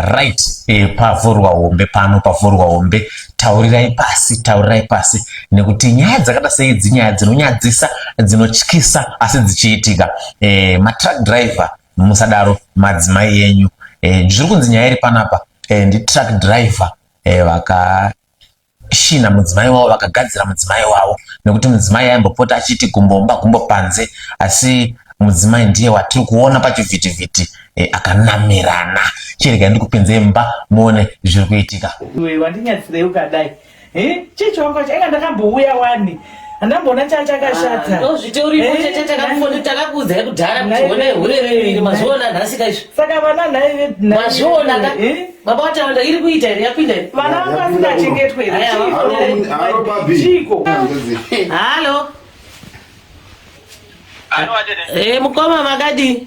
right e, pavhurwa hombe pano pavhurwa hombe taurirai pasi taurirai pasi nekuti nyaya dzakada sei dzinyaya dzinonyadzisa dzinotyisa asi dzichiitika e, matruck driver musadaro madzimai yenyu e, zviri kunzi nyaya iri panapa e, nditruck driver e, vaka She namudzimai wavo vakagadzira mudzimai wavo nekuti mudzimai aimbopota achiti gumbomba gumbo panze asi mudzimai ndiye watiri kuona pachivhitivhiti e, akanamirana chirega ndikupinze mba muone zviri kuitika iwe wandinyatsirei ukadai chechi wangu wacho anga ndakambouya wani handamboona chaa chakashata ah, ndozvite uripo eh, chete takafoni takakuudzai kudhara kuti one hure reviri mazviona nhasika izvi saka vana nhai mazviona ka eh? baba wataunda iri kuita here yapinda iri vana vangu vasingachengetwe chiko halo ee eh, mukoma makadii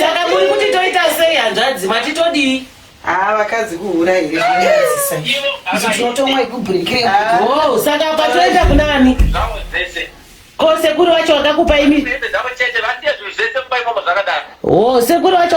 saka muri kuti toita sei hanzvadzi mati todii haa vakadzi kuhura here oh, saka patoenda kunani ko sekuru vacho vakakupa imi o oh, sekuru vacho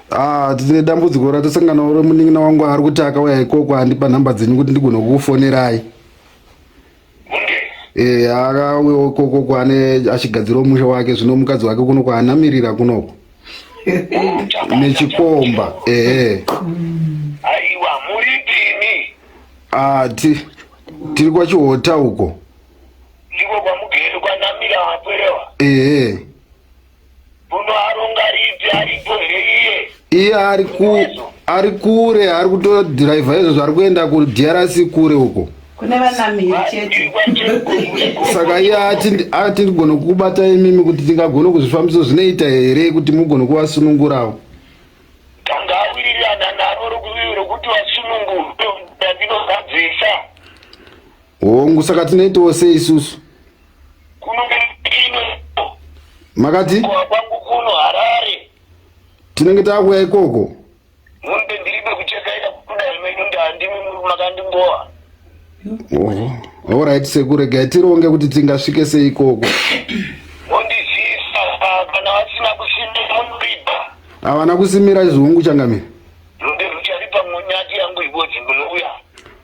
Ah, tine dambudziko ratasangana uri munin'ina wangu ari kuti akauya ikoko andipa nhamba dzenyu kuti ndigone kukufonerai e, akauya ikoko kwane achigadzirawo musha wake zvino mukadzi wake kuno kwaanamirira kunoko nechikomba ehe aiwa muripini ah, ti, tiri kwachihota uko ndiko kwamugeri kwanamira wapwerewa ehe Unoaronga ripi aripo here iye? Iye ari ku ari kure ari kutodhiraivha izvozvo ari kuenda kuDRC kure uko. kune vanamiri chete Saka iye ati ndi- ati ndigone kukubata imimi kuti tingagone kuzvifambisa zvinoita here kuti mugone kuvasunungurawo. Tanga awirirana naro rokuvivi rokuti vasunungurwe ndinozadzisa. Hongu saka tinoitawo sei isusu? kuno ino makati kwa kwangu kuno harare tinenge takuya ikoko munde ndiribe kuchekaita kudai menyu ndandimi muri makandimbowa oho alright sekuru regai tironge kuti tingasvike sei ikoko mondizisa kana vasina kusimira munoripa havana kusimira chizungu changamire munde rucharipa munyati yangu ikodzi munouya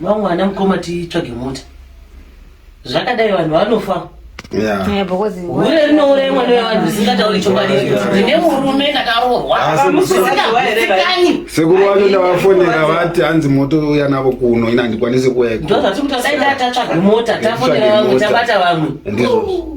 Mamwe ana mukoma titsvage mota. Zvakadai vanhu vanofa. Yeah. Because hure rinouraya mwana wevanhu zvisingatauri chokwadi ndine murume ndakaroorwa musikani sekuru wacho ndavafonera vati hanzi moto uya navo kuno ina handikwanisi kuuya ndo zvatiri kutasaida tatsvaga mota tafonera vamwe tabata vamwe ndizvozvo